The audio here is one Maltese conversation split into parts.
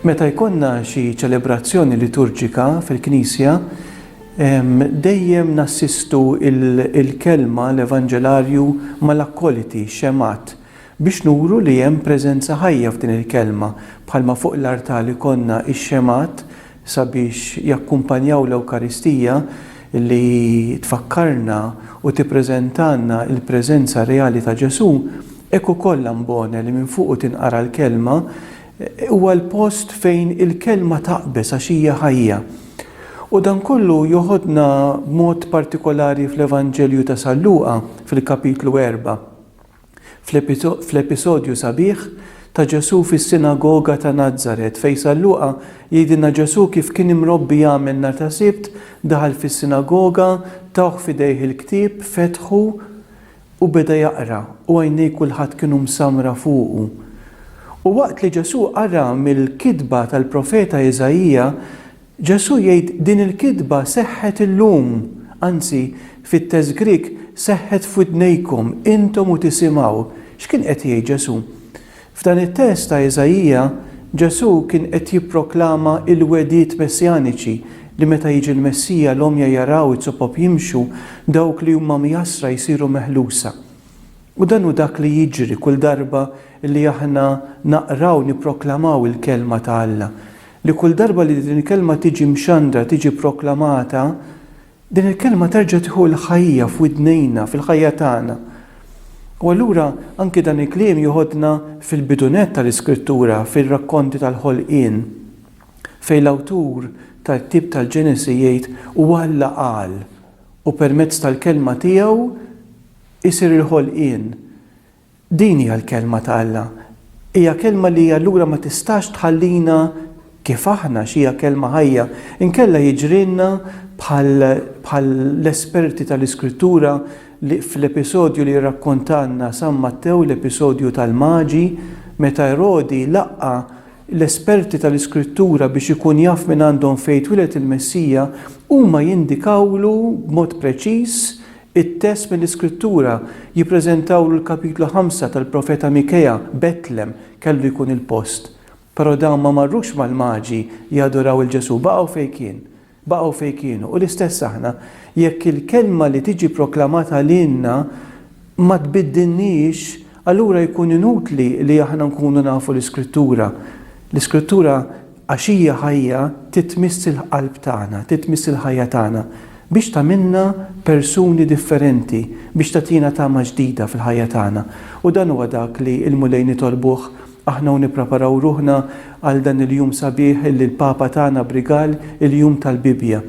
Meta jkollna xi ċelebrazzjoni liturġika fil-Knisja, dejjem nassistu il-kelma l-Evanġelarju mal-akkoliti, xemat, Biex nuru li hemm preżenza ħajja f'din il-kelma, bħalma fuq l-artal ikollna x-xemgħat sabiex jakkumpanjaw l-Ewkaristija li tfakkarna u tippreżentalna l-preżenza reali ta' Ġesù, hekk ukoll l-ambone li minn fuqu tinqara l-kelma huwa l-post fejn il-kelma taqbeż għax hija ħajja. U dan kollu joħodna b'mod partikolari fl-Evanġelju ta' San Luqa fil-kapitlu erba'. Fl-episodju sabiħ ta' Ġesù fis-sinagoga ta' Nazaret, fejn San Luqa jgħidilna Ġesù kif kien imrobbi jagħmel nhar ta' Sibt, daħal fis-sinagoga, tawh f'idejh il-ktieb, fetħu u beda jaqra, u għajnej kulħadd kienu msammra fuqu. U waqt li Ġesù qara mill-kitba tal-profeta Iżaija, Ġesù jgħid din il-kitba seħħet illum, anzi, fit-test Grieg seħħet f'widnejkom, intom u tisimgħu. X'kien qed jgħid Ġesù? F'dan it-test ta' Iżaija, Ġesù kien qed jipproklama l-wegħdiet messjaniċi li meta jiġi l-Messija l-għomja jaraw, iz-zopop jimxu, dawk li huma mjasra jsiru meħlusa. U dan hu dak li jiġri kull darba li aħna naqraw, nipproklamaw il-Kelma ta' Alla. Li kull darba li din il-Kelma tiġi mxandra, tiġi ppproklamata, din il-Kelma terġa' tieħu l-ħajja f'widnejna, fil-ħajja tagħna. U allura anki dan il-kliem joħodna fil-bidunett tal-Iskrittura, fir-rakkonti tal-ħolqien, fejn l-awtur tal-ktieb tal-Ġenesi jgħid, U Alla qal, u permezz tal-Kelma tiegħu isir il-ħolqien. Din hija l-Kelma ta' Alla. Hija Kelma li allura ma tistax tħallina kif aħna għax hija Kelma ħajja. Inkella jiġrilna bħall-esperti tal-Iskrittura li fl-episodju li rrakkontalna San Mattew, l-episodju tal-Maġi, meta Erodi laqqa' l-esperti tal-Iskrittura biex ikun jaf mingħandhom fejn twiled il-Messija, huma jindikawlu b'mod preċiż It-test mill-Iskrittura jippreżentawlu l-kapitlu ħamsa tal-profeta Mikea, Betlem kellu jkun il-post. Però dawn ma marrux mal-Maġi jadoraw 'il Ġesù, baqgħu fejn kien. Baqgħu fejn kienu. U l-istess aħna. Jekk il-kelma li tiġi proklamata lilna ma tbiddilniex, allura jkun inutli li aħna nkunu nafu l-Iskrittura. L-Iskrittura Għax hija ħajja trid tmiss il-qalb tagħna, trid tmiss il-ħajja tagħna biex tagħmilna persuni differenti, biex tagħtina tama ġdida fil-ħajja tagħna. U dan huwa dak li l-Mulej nitolbuh aħna u nippreparaw ruħna għal dan il-jum sabiħ li l-Papa tana b'rigal, il-jum tal-Bibbja.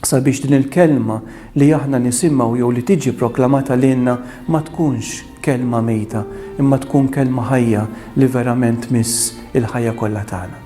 sabiex din il-kelma li aħna nisimgħu jew li tiġi proklamata lilna ma tkunx kelma mejta, imma tkun kelma ħajja li verament tmiss il-ħajja kollha tagħna.